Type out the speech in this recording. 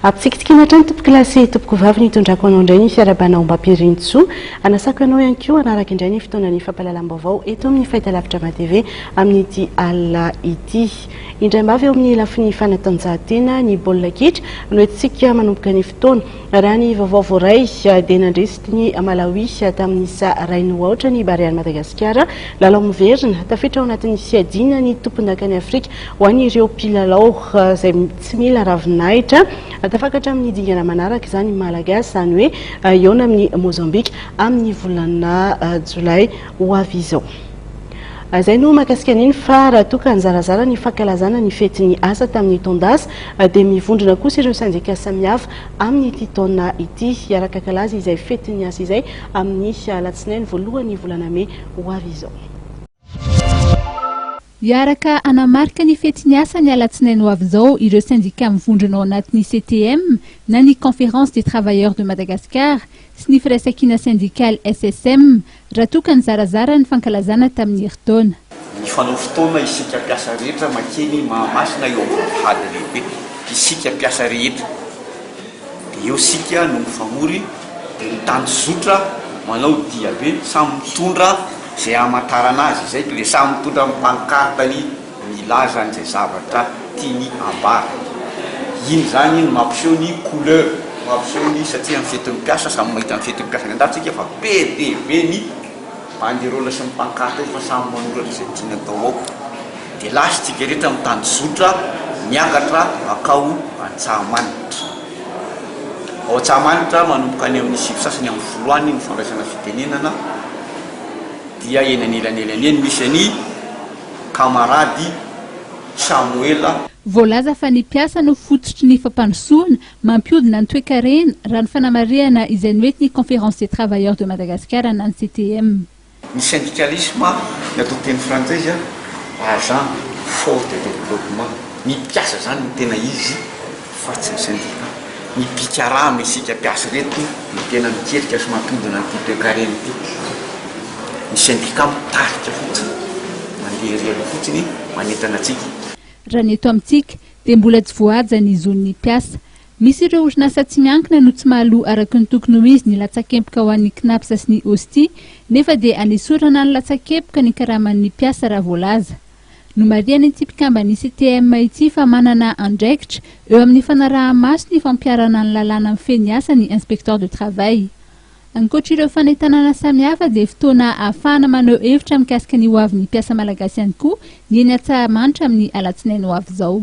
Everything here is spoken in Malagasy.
Ampitsikitsikiana hatrany tompokolahy sy tompokovavy ny hitondrako anao indray ny fiarahabana ao Ambampirintsoa. Anasako anao ihany koa hanaraka indray ny fotoanan'ny fampahalalam-baovao eto amin'ny Fahitalavitra Drama TV amin'ity alina ity. Indray mba avy eo amin'ny lafiny fanatanjahantena, ny baolina kitra no entintsika manomboka ny fotoana. Raha ny vaovao voaray dia nandresy tiny Malawi tamin'ny isa iray noho aotra ny Barean'i Madagasikara, lalao miverina. Tafiditra ao anatin'ny fiadiana ny tompondakan'i Afrika ho an'ireo mpilalao izay. Tsy mila ravinahitra. Tafakatra amin'ny dingana manaraka izany ny Malagasy, izany hoe hihaona amin'i Mozambika amin'ny volana jolay ho avy izao. Izay no mahakasika an'iny fa raha toa ka nizarazara ny fankalazana ny fetin'ny asa tamin'ny taon-dasa dia mivondrona kosa ireo sendika samihafa amin'ity taona ity hiaraka hankalaza izay fetin'ny asa izay amin'ny alatsinainy voalohan'ny volana mey ho avy izao. Hiaraka hanamarika ny fety niasa ny alatsinainy ho avy izao ireo sendika mivondrona ao anatin'ny CTM na ny Conférence des Travailleurs de Madagascar sy ny Firaisankina Sendikaly, SSM, raha toa ka nizarazara ny fankalazana tamin'ny herintaona. Mifanao fotoana isika mpiasa rehetra makeny Mahamasina eo amin'ny vavahady lehibe, isika mpiasa rehetra. Dia eo isika no mifamory, dia ny tany zotra manao diabe, samy mitondra izay hamantarana azy, izay ko dia samy mitondra ny pancartany milaza an'izay zavatra tiany ambara. Iny izany no mampiseho ny couleur, mampiseho ny, satria amin'ny fetin'ny mpiasa, samy mahita ny fetin'ny mpiasa any an-dafy isika fa be dia be ny. Banderole sy ny pancarte efa samy manoratra izay tiany atao ao dia lasa i tsikeritra mitandro zotra miakatra makao Antsahamanitra. Ao Antsahamanitra manomboka any amin'ny sivy sasany amin'ny folo any ny fandraisana fitenenana dia eny anelanelany eny misy an'i kamarady Samoela. Voalaza fa ny mpiasa no fototry ny fampandrosoana Mampiodina ny toekarena, raha ny fanamarihana izay noentin'ny Conférence des Travailleurs de Madagascar na ny CTM. Ny sendikalisma, ny atao teny frantsay izy an, agent fort de développement, ny mpiasa izany no tena izy fa tsy ny sendika. Ny mpikarama, isika mpiasa ireto no tena mikirika sy mampiodina an'ity toekarena ity. Ny sendika mitarika fotsiny, mandeha irery fotsiny manentana antsika. Raha ny eto amintsika, dia mbola tsy voahaja ny zon'ny mpiasa. Misy ireo orinasa tsy miankina no tsy mahaloa araka ny tokony ho izy ny latsakempoka ho an'ny Cnaps sy ny OSTI nefa dia anesorana ny latsakempoka ny karaman'ny mpiasa raha voalaza. Nomarihan'ity mpikamban'ny CTM ity fa manana andraikitra eo amin'ny fanaraha-maso ny fampiharana ny lalàna mifehy ny asa ny Inspecteur de Travail. Ankoatra ireo fanentanana samihafa dia fotoana ahafahana maneho hevitra mikasika ny hoavin'ny mpiasa malagasy ihany koa ny eny Antsahamanitra amin'ny alatsinainy ho avy izao.